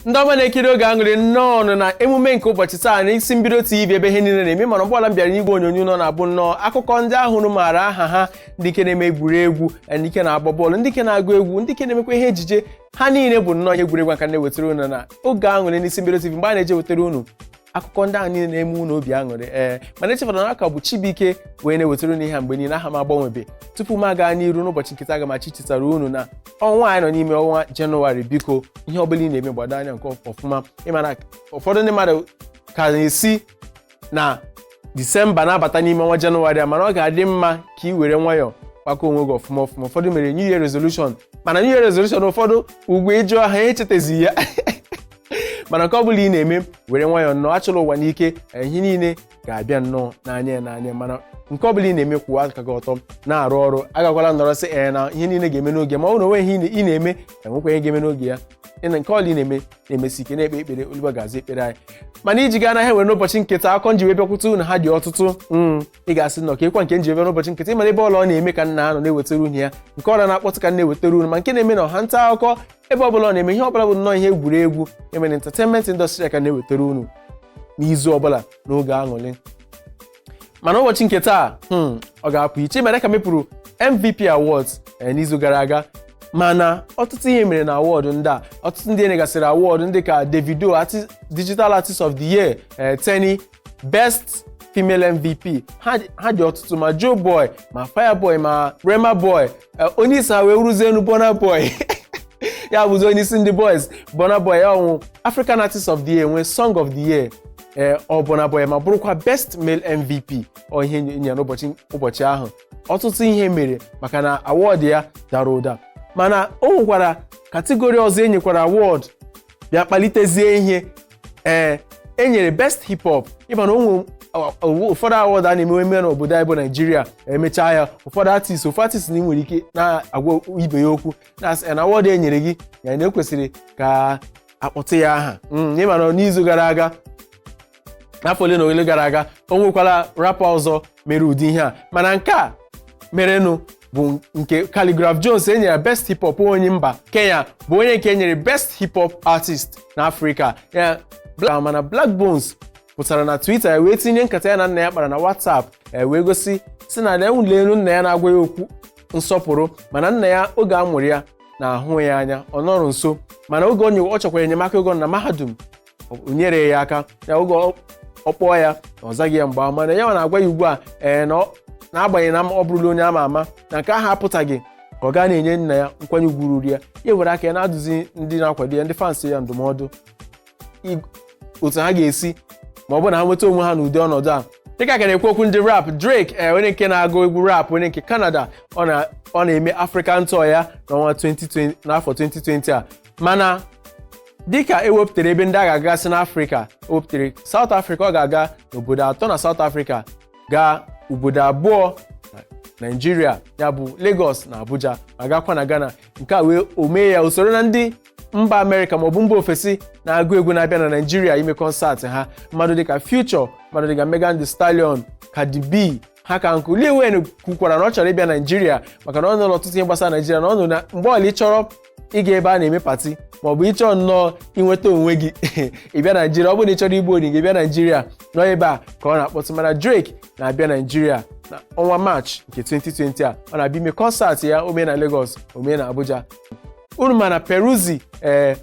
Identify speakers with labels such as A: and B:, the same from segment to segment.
A: ndị ọma na-ekiri oge aṅụrị nnọọnụ na emume nke ụbọchị taa na isi mbido tv ebe ihe niile na-eme mana mgbe ọbụla m bịara n'igwe onyonyo na ọ na-abụ nnọọ akụkọ ndị ahụ unu maara aha ha ndị nke na-eme egwuregwu ndị nke na-agba bọọlụ ndị nke na-agụ egwu ndị nke na-emekwa ihe ejije ha niile bụ nnọọ ihe egwuregwu ka na-ewetara unu na oge aṅụrị n'isi mbido tv mgbe a na-eji ewetara unu akụkọ ndị ahụ niile na-eme unu obi aṅụrị ee mana echefana na a ka m bụ Chibuike wee na-ewetara unu ihe a mgbe niile aha m agbanwebe tupu m aga n'iru n'ụbọchị nke taa aga m achọ ichetara unu na ọnwa anyị nọ n'ime ọnwa jenụwarị biko ihe ọbụla ị na-eme gbado anya nke ọfụma ịma na ụfọdụ ndị mmadụ ka na-esi na disemba na-abata n'ime ọnwa jenụwarị a mana ọ ga-adị mma ka ị were nwayọọ gbakọ onwe gị ọfụma ọfụma ụfọdụ mere new year resolution mana new year resolution ụfọdụ ugbu a ị jụọ ha ha echetazi ya mana nke ọ bụla ị na-eme were nwayọọ nnọọ achụla ụwa n'ike ihe niile ga-abịa nnọọ na nwayọọ nwayọọ mana nke ọbụla ị na-eme kwụwa aka gị ọtọ na-arụ ọrụ agakwala nọrọ sị ee na ihe niile ga-eme n'oge ma ọ na onweghị ihe ị na-eme ka nwekwa ihe ga-eme n'oge ya mana nke ọbụla ị na-eme na-emesi ike na-ekpe ekpere oluwa ga-aza ekpere anyị mana iji gaa n'ihe anyị nwere n'ụbọchị nke taa akụkọ m ji wee bịakwute unu ha dị ọtụtụ ị ga-asị nnọọ ka ịkwa nke m ji wee n'ụbọchị nke taa ịma na ebe ọbụla ọ na-eme ka m na-anọ na-ewetara unu ya nke ọbụla na-akpọtụ ka na-ewetara unu ma nke na-eme na ọha nta akụkọ ebe ọbụla ọ na-eme ihe ọbụla bụ nnọọ ihe egwuregwu eme na entertainment industry ka na-ewetara unu n'izu ọbụla n'oge aṅụrị mana ụbọchị nke taa hmm, ọ ga-apụ iche mere ka mepụrụ MVP Awards eh, n'izu gara aga mana ọtụtụ ihe mere na awọdụ ndị a ọtụtụ ndị enyegasịrị awọdụ dị ka Davido artist, Digital Artist of the Year eh, Teni best female mvp ha dị- ha dị ọtụtụ ma joe boy ma fireboy ma rema boy eh, onye isi ha wee bụrụzienụ burna boy ya bụzi onye isi ndị boys burna boy ya nwe african artist of the year nwee song of the year ee ọ burna boy ma bụrụkwa best male mvp ọ ihe enyere n'ụbọchị ụbọchị ahụ ọtụtụ ihe mere maka na award ya dara ụda mana o nwekwara kategori ọzọ enyekwara award bịa kpalitezie ihe ee e nyere best hip hop ịma na o nwere ụfọdụ awọdụ a na-emewe eme n'obodo anyị bụ naijiria emechaa ya ụfọdụ artist ụfọdụ artist na ị nwere ike na-agwa ibe ya okwu na-asị na awọdụ e nyere gị ya na ekwesịrị ka akpọtụ ya aha Mm, ịma na n'izu gara aga n'afọ ole na ole gara aga o nwekwara rapa ọzọ mere ụdị ihe a mana nke a merenụ bụ nke Khaligraph Jones enyere best hip hop onye mba Kenya bụ onye nke enyere best hip hop artist na Afrịka ya mana Blaqbonez pụtara na Twitter ya wee tinye nkata ya na nna ya kpara na WhatsApp ya wee gosi sị na unu leenụ nna ya na-agwa ya okwu nsọpụrụ mana nna ya oge a mụrụ ya na-ahụ ya anya ọ nọrọ nso mana oge ọ chọkwara enyemaka oge ọ nọ na mahadum o nyere ya aka ya oge ọ- ọ kpọọ ya ọ zaghị ya mgbe ahụ mana ya nwa na-agwa ya ugbu a ee na ọ- n'agbanyeghị na ọ bụrụla onye ama ama na nke ahụ apụtaghị ka ọ ghara na-enye nna ya nkwanye ugwu ruru ya ya were aka ya na-adụzi ndị na-akwado ya ndị fans ya ndụmọdụ ig- otu ha ga-esi ma ọ bụ na ha nweta onwe ha n'ụdị ọnọdụ a dịka a ka na-ekwu okwu ndị rap Drake ee onye nke na-agụ egwu rap onye nke Canada ọ na- ọ na-eme African tour ya n'ọnwa 2020 n'afọ 2020 a mana dịka e wepụtara ebe ndị a ga-agasị n'afrịka e wepụtara saụt afrịka ọ ga-aga n'obodo atọ na saụt afrịka gaa obodo abụọ na naijiria ya bụ lagos na abuja ma gakwa na ghana nke a wee o mee ya o soro na ndị mba amerịka maọbụ mba ofesi na-agụ egwu na-abịa na naijiria ime kọnsaatị ha mmadụ dịka future mmadụ dịka megan thee stallion cardi b ha ka nkụ Lil Wayne kwukwara na ọ chọrọ ịbịa Naijiria maka na ọ nụrụ ọtụtụ ihe gbasara Naijiria na ọ nụrụ na mgbe ọbụla ị chọrọ ịga ebe a na-eme pati ma ọ bụ ị chọọ nnọọ inweta onwe gị ị bịa Naijiria ọ bụrụ na ị chọrọ igbu onwe gị bịa Naijiria na ọ ebe a ka ọ na-akpọtụ mana Drake na-abịa Naijiria na ọnwa Maachị nke 2020 a ọ na-abịa ime kọnsaatị ya o mee na Lagos o mee na Abuja unu ma na Peruzzi ee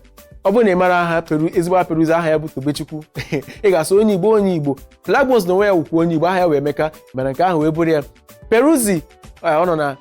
A: ọ bụrụ na ị mara aha Peru ezigbo aha Peruzzi aha ya bụ Tobechukwu ị ga-asị onye Igbo onye Igbo Blaqbonez na onwe ya wụkwa onye Igbo aha ya wụ Emeka mana nke ahụ wee bụrụ ya Peruzzi ọ nọ na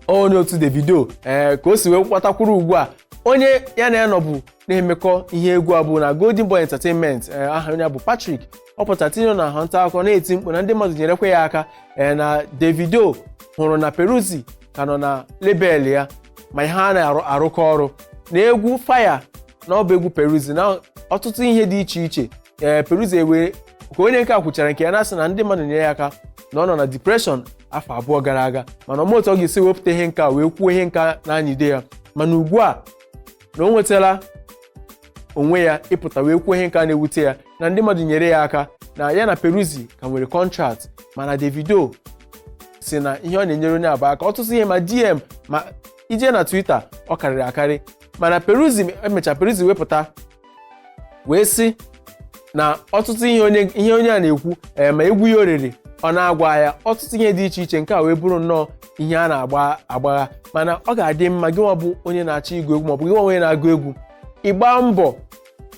A: onye otu Davido ee ka o si wee kwatakwuru ugbu a onye ya na ya nọbu na-emekọ ihe egwu a bụ na Golden Boy Entertainment ee aha onye a bụ Patrick ọ pụtara tinye na ha nta akụkọ na-eti mkpu na ndị mmadụ nyerekwa ya aka ee na Davido hụrụ na Peruzzi ka nọ na lebel ya ma ha na-arụkọ ọrụ na egwu Fia na ọ bụ egwu Peruzzi na ọtụtụ ihe dị iche iche ee Peruzzi ewee ka onye nke a kwuchara nke ya na-asị na ndị mmadụ nyere ya aka na ọ nọ na depreshọn afọ abụọ gara aga mana ọ maghị otu ọ ga-esi wepụta ihe nke a wee kwuo ihe nke na-anyịde ya mana ugbu a na o nwetala onwe ya ịpụta wee kwuo ihe nke na-ewute ya na ndị mmadụ nyere ya aka na ya na Peruzzi ka nwere kọntraktị mana Davido sị na ihe ọ na-enyere onye ahụ aka ọtụtụ ihe ma DM ma ị jee na Twitter ọ karịrị akarị mana Peruzzi emecha Peruzzi wee pụta wee sị na ọtụtụ ihe onye ihe onye a na-ekwu ee ma egwu ya o rere ọ na-agwa ya ọtụtụ ihe dị iche iche nke a wee bụrụ nnọọ ihe a na-agbagha mana ọ ga-adị mma gị nwa bụ onye na-achọ ịgụ egwu maọbụ gị nwa onye na-agụ egwu ịgba mbọ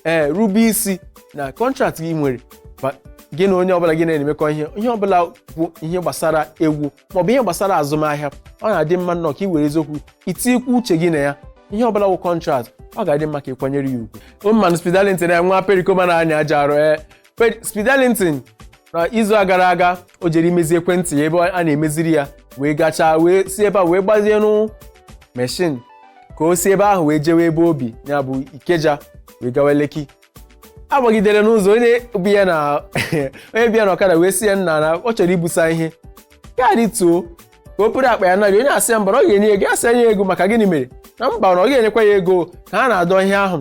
A: ee rube isi na kọntraktị ị nwere ma gị na onye ọbụla gị na-emekọ ihe ihe ọbụla bụ ihe gbasara egwu maọbụ ihe gbasara azụmahịa ọ na-adị mma nnọọ ka ị were eziokwu itikwu uche gị na ya ihe ọbụla wụ kọntrat ọ ga-adị mma ka ị kwanyere ya ugwu ụmụmanụ Speed Darlington ya nwa perikoma na-anyị ajọ arụ ee Speed Darlington na izu a gara aga o jere imezi ekwentị ya ebe a na-emeziri ya wee gachaa wee si ebe a wee gbazie nụ meshin ka o si ebe ahụ wee jewe ebe o bi ya bụ Ikeja wee gawa Lekki agbagidere n'ụzọ onye bu ya na onye bu ya na ọkada wee sị ya nna na ọ chọrọ ibusa ihe ya rituo ka o buru akpa ya na gị onye a sị ya mba na ọ ga-enye ego a sị ya ego maka gịnị mere na mba na ọ ga-enyekwa ya ego ka ha na-adọ ihe ahụ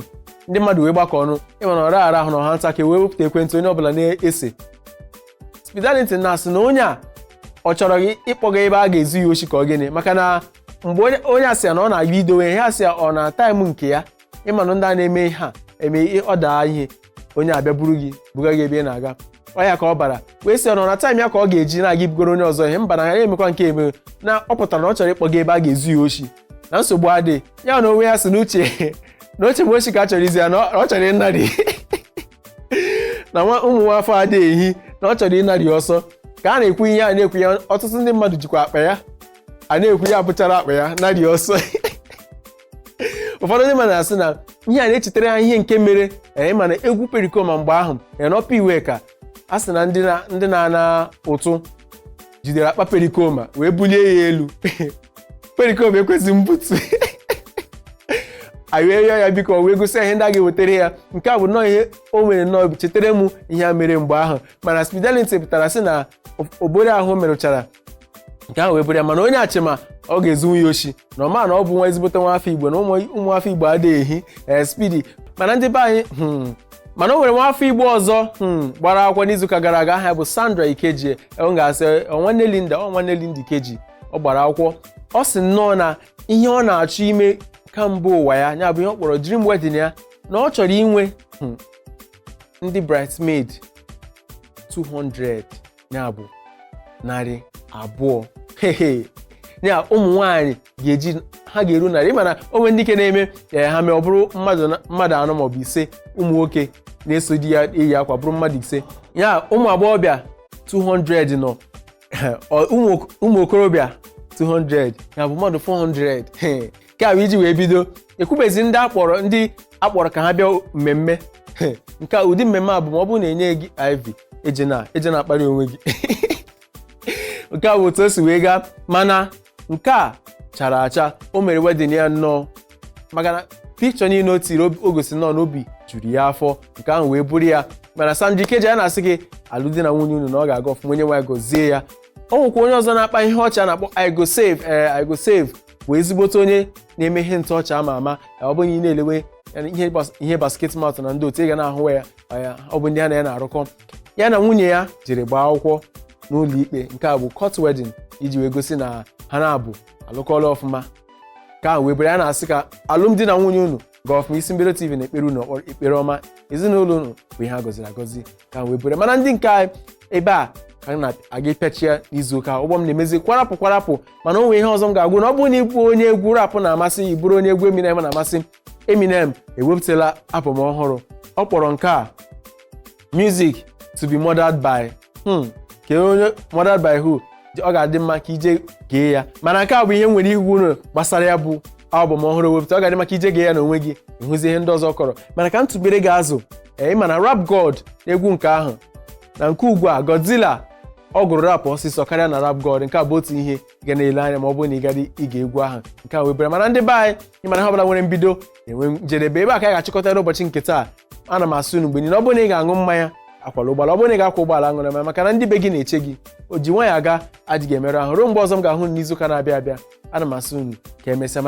A: ndị mmadụ wee gbakọ ọnụ ịma na ọ raghara ahụ na ọha nta ka e wee wepụta ekwentị onye ọbụla na-ese Speed Darlington na-asị na onye a ọ chọrọ gị ịkpọga ebe a ga-ezu ya oshi ka ọ gịnị maka na mgbe onye a sị ya na ọ na-aga idowe ihe a sị ya ọ na taịm nke ya ịma na ndị a na-eme ihe a eme ihe- ọ daa ihe onye a bịa buru gị buga gị ebe ị na-aga ọ ya ka ọ bara wee sị ọ nọ na taịm ya ka ọ ga-eji na-aga ibugoro onye ọzọ ihe mba na ya emekwa nke eme na ọ pụtara na ọ chọrọ ịkpọga ebe a ga-ezu ya oshi na nsogbu adị ya na onwe ya sị n'uche na o che mgbe oshi ka a chọrọ izu ya na ọ ọ chọrọ ịnarị na nwa ụmụ nwa afọ adịghị ehi na ọ chọrọ ịnarị ọsọ ka a na-ekwu ihe a na-ekwu ya ọtụtụ ndị mmadụ jikwa akpa ya a na-ekwu ya buchara akpa ya narị ọsọ ụfọdụ ndị mmadụ na-asị na ihe a na-echetara ha ihe nke mere ee mana egwu perikoma mgbe ahụ ee n'Upper Iweka a sị na ndị na- ndị na-ana ụtụ jidere akpa perikoma wee bulie ya elu perikoma ekwezighị mbutu anyị wee rịọ ya biko wee gosi ya ihe ndị a ga-ewetara ya nke a bụ nnọọ ihe o nwere nnọọ o chetara m ihe a mere mgbe ahụ mana Speed Darlington pụtara sị na obodo ahụ merụchara nke ahụ wee bụrụ ya mana onye eche ma ọ ga-ezunwu ya oshi na ọ ma na ọ bụ nwa ezigbote nwa afọ igbo na ụmụ ụmụ afọ igbo adịghị ehi ee Speedy mana ndị be anyị hmm, mana o nwere nwa afọ igbo ọzọ hmm, gbara akwụkwọ n'izuụka gara aga aha ya bụ Sandra Ikeji ọ ga-asị "Ọ nwanne linda ọ nwanne linda ikeji ọ gbara akwụkwọ ọ sị nnọọ na ihe ọ na-achọ ime kamgbe ụwa ya ya bụ ihe ọ kpọrọ dream wedding ya na ọ chọrọ inwe hmm, ndị bridesmaid 200 ya bụ narị abụọ hehe ya ụmụ nwaanyị ga-eji ha ga-eru narị ị ma na o nwe ndị nke na-eme ee ha mee ọ bụrụ mmadụ na- mmadụ anọ maọbụ ise ụmụ nwoke na-eso di ya eyi akwa bụrụ mmadụ ise ya ụmụ agbọghọbịa 200 nọ Ọ- ụmụ ok- ụmụ okorobịa 200 ya bụ mmadụ 400 He, nke a bụ iji wee bido ekwubezi ndị a kpọrọ ndị a kpọrọ ka ha bịa mmemme nke a ụdị mmemme a bụ ma ọ bụrụ na enyeghị gị IV ejena ejena akparị onwe gị nke a bụ otu o si wee gaa mana nke a chara acha o mere wedding ya nnọọ maka na pikchọ niile o tiri o gosi nnọọ na obi juru ya afọ nke ahụ wee bụrụ ya mana Sandra Ikeji a na-asị gị alụmdi na nwunye unu na ọ ga-aga ọfụma onye nwe anyị gọzie ya o nwekwa onye ọzọ na-akpa ihe ọchị a na-akpọ I go save ee I go save bụ ezigbote onye na-eme ihe ntụ ọchị ama ama ya ọ bụrụ ị na-elewe ya na ihe bas- ihe Basketmouth na ndị otu ị ga na-ahụwa ya ọ ya ọ bụ ndị ha na ya na-arụkọ ya na nwunye ya jiri gbaa akwụkwọ n'ụlọ ikpe nke a bụ court wedding iji wee gosi na ha naabọ alụkọla ọfụma ka wee bere ya na-asị ka alụmdi na nwunye unu gaa ọfụma Isi Mbido TV na-ekpere unu ekpere ọma ezinụlọ unu bụ ihe a gọziri agọzi ka m wee buru ya. mana ndị nke anyị ebe a ka anyị na-aga ịpịachi ya n'izu ụka ụgbọ m na-emezi kwarapụ kwarapụ mana o nwere ihe ọzọ m ga-agwa unu ọ bụrụ na ị bụ onye egwu rap na-amasị ị bụrụ onye egwu Eminem na-amasị Eminem ewepụtala album ọhụrụ ọ kpọrọ nke a music to be murdered by hmm, kee onye murdered by who ọ ga-adị mma ka i jee gee ya mana nke a bụ ihe m nwere ịgwa unu gbasara ya bụ albọm ọhụrụ o wepụtara ọ ga-adị mma ka i jee gee ya n'onwe gị ị hụzie ihe ndị ọzọ kọrọ mana ka m tụbere gị azụ ee ị ma na rap god egwu nke ahụ na nke ugbu a godzilla ọ gụrụ rap ọsịsọ karịa na rap god nke a bụ otu ihe ị ga na-ele anya ma ọ bụrụ na ị gara ige egwu ahụ nke a webere mana ndị be anyị ị ma na ihe ọbụla nwere mbido na-enwe njedebe ebe a ka a ga-achịkọta n'ụbọchị nke taa ana m asị unu mgbe niile ọ bụrụ na ị ga-aṅụ mmanya akwala ụgbọala ọ bụrụ na ị ga-akwa ụgbọala aṅụla mmanya maka na ndị be gị na-eche gị o ji nwayọọ aga adịghị emerụ ahụ ruo mgbe ọzọ m ga-ahụ unu n'izuụka na-abịa abịa ana m asị unu ka emesịa